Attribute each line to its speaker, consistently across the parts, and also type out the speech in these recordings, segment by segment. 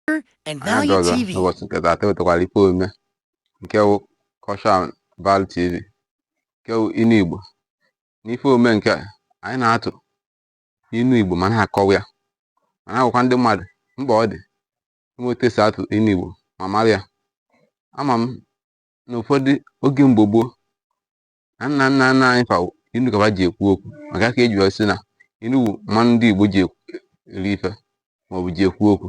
Speaker 1: and Anyị Value abịaọzọ
Speaker 2: TV. n'ụbọchị
Speaker 1: nke
Speaker 2: taata ewetakwara ife omume nke wụ Cultural Value TV nke wụ inu Igbo n'ife omume nke a, anyị na-atụ inu Igbo ma na-akọwa ya ma na-agwakwa ndị mmadụ mkpa ọ dị ịma otu esi atụ inu Igbo ma mara ya ama m na ụfọdụ oge mgbe gboo na nna nna nna anyị fa inu ka fa ji ekwu okwu maka ya ka eji sị na inu wụ mmanụ ndị Igbo ji eri ife maọbụ ji ekwu okwu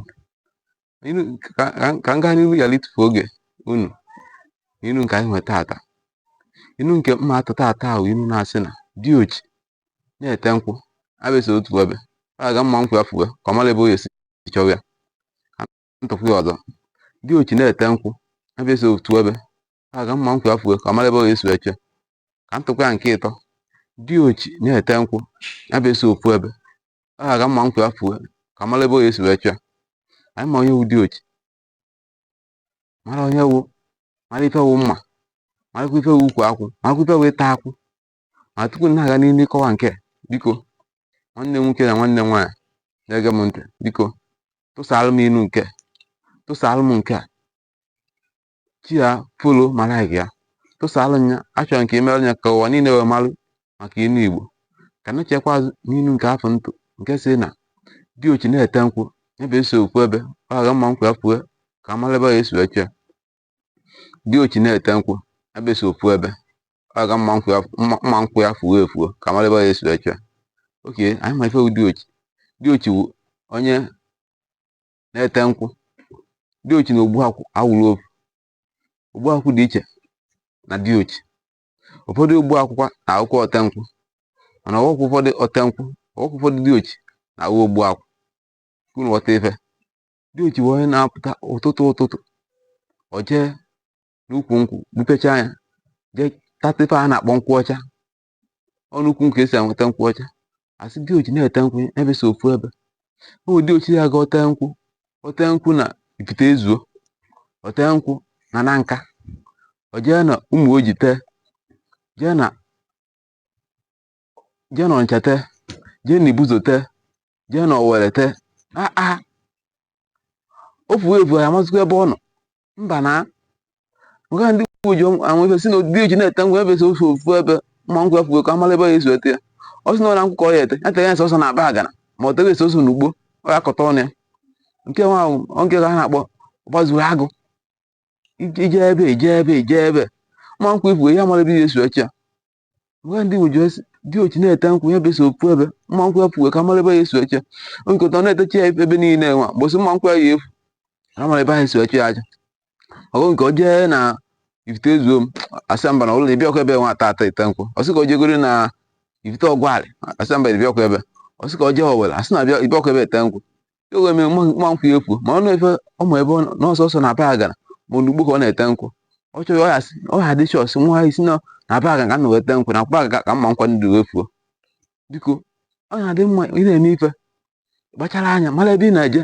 Speaker 2: ka m gaa n'ihu ghara ịtụfu oge unu inu nke anyị nwe taata inu nke m ya-atụ taata wụ inu na-asị na diochi na-ete nkwụ abịasị otu ebe a ga mma nkwụ ya fuwe ka ọ mara ebe ọ ya-esi chọwa ya m tụkwaa ya ọzọ diochi na-ete nkwụ abịasị otu ebe aga mma nkwụ ya fuwe ka ọ mara ebe ọ ga-esi achọ ya ka m tụkwa ya nke ịtọ diochi na-ete nkwụ ya bụ esi ofu ebe a ga mma nkwụ ya fuwe ka ọ mara ebe ọ ga-esi wee chọọ anyị ma onye wụ diochi mara onye ọ wụ mara ife wụ mma marakwa ife wụ ukwu akwụ marakwa ife wụ ịta akwụ ma tupu m na-aga n'ihu ịkọwa nke biko nwanne m nwoke na nwanne m nwaanyị na-ege m ntị biko tụsara m inu nke tụsara m nke a share ya follow ma like ya tụsaalụ m ya achọrọ m ka i meerụ m ya ka ụwa niile wee malụ maka inu igbo ka m nachikwa azụ n'inu nke afụ m tụ nke sị na diochi na-ete nkwụ ebe esi ofu ebe ọ ga mma nkwụ ya fuwe ka amara ebe ya-esi achọ ya diochi na-ete nkwụ ebe esi ofu ebe ọ ga mma nkwụ mma nkwụ ya fuo efuo ka amara ebe ya-esi achọ ya okay anyị ma ife wụ diochi diochi wụ onye na-ete nkwụ diochi na ogbuakwụ awụrọ ofu ogbuakwụ dị iche na diochi ụfọdụ ogbuakwụkwa na-awụkwa otenkwụ mana ọ wụkwa ụfọdụ otenkwụ ọ wụkwa ụfọdụ diochi na-awụ ogbuakwụ ka unu ghọta ife diochi wụ onye na-apụta ụtụtụ ụtụtụ ọ jee n'ukwu nkwụ gbupechaa ya jee tata ife a na-akpọ nkwụ ọcha ọ n'ukwu nkwụ ka esi enweta nkwụ ọcha asị diochi na-ete nkwụ ebe si ofu ebe ọ wụ diochi ya ga o tee nkwụ o tee nkwụ na Ifite ezuo o tee nkwụ na Nanka o jee na Ụmụoji tee jee na jee na Ọnịcha tee jee na Ibuzo tee jee na Owere tee aa o fuo evu a ya-amazịkwa ebe ọ nọ mba nya ka ndị Igbo ji anwụ ife sị na diochi na-ete nkwụ ebe so ofu ofu ebe mma nkwụ ya fuo ka amara ebe ya-esi achọ ya ọ sị na Ọraukwu ka ọ ya-ete ya tere ya sọsọ na Abagana ma ọ tere ya sọsọ n'ugbo ọ ya akọta ọnụ ya nke nwa ahụ oge ka ha na-akpọ gbazuru agụ ije ebe ije ebe ije ebe mma nkwụ ị fuo a ya mara ebe ya-esi achọ ya Nwa ndị Igbo ji asị diochi na-ete nkwụ ya ebe sọ ofu ebe mma nkwụ ya fuwe ka a mara ebe ya esi achọ kịta ọ na-etechi ya ebe niile nwa mbọsị mma nkwụ ya ya efu ka mara ebe ha esi achọ ya aja ọgụ nke o jee na Ifite ezuo m asị mba na ụlọ na ịbịakwa ebe nwa tata ite nkwụ ọ sị ka o jegoro na Ifite Ọgwarị a sị mba ịbịakwa ebe ọ sị ka o jee Owere a sị na abịa ịbịakwa ebe ete nkwụ e wee mee mma nkwụ ya efuo ma ọ na-efe ụmụ ebe n'ọsọsọ na Abagana ma olugbo ka ọ na-ete nkwụ ọ chọghị ọ ha dị chọọsị nwa isi na na Abagana ka ọ na-ete nkwụ na kwaga ka mma nkwụ ndị wee fuo biko ọ na-adị mma ị na-eme ife kpachara anya mara ebe ị na-eje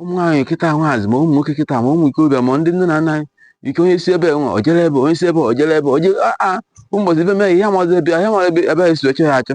Speaker 2: ụmụ nwaanyị kịta nwaazị ma ụmụ nwoke kịta ma ụmụ ikorobịa ma ndị nne na nna anyị ike onye si ebe nwa o jere ebe onye si ebe o jere ebe o je aa mbọchị ife mee ya amazi ebe ya mara ebe ebe esi achọ ya achọ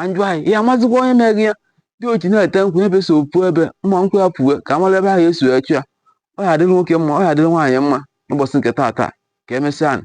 Speaker 2: anjụ anyị ya amazikwa onye mere ya diochi na-ete nkwụ ebe sọ ofu ebe mma nkwụ ya fuwe ka a mara ebe ahụ esi achọ ya ọ ya adịrị nwoke mma ọ ya adịrị nwaanyị mma n'ụbọchị nke taata ka emesịa nụ.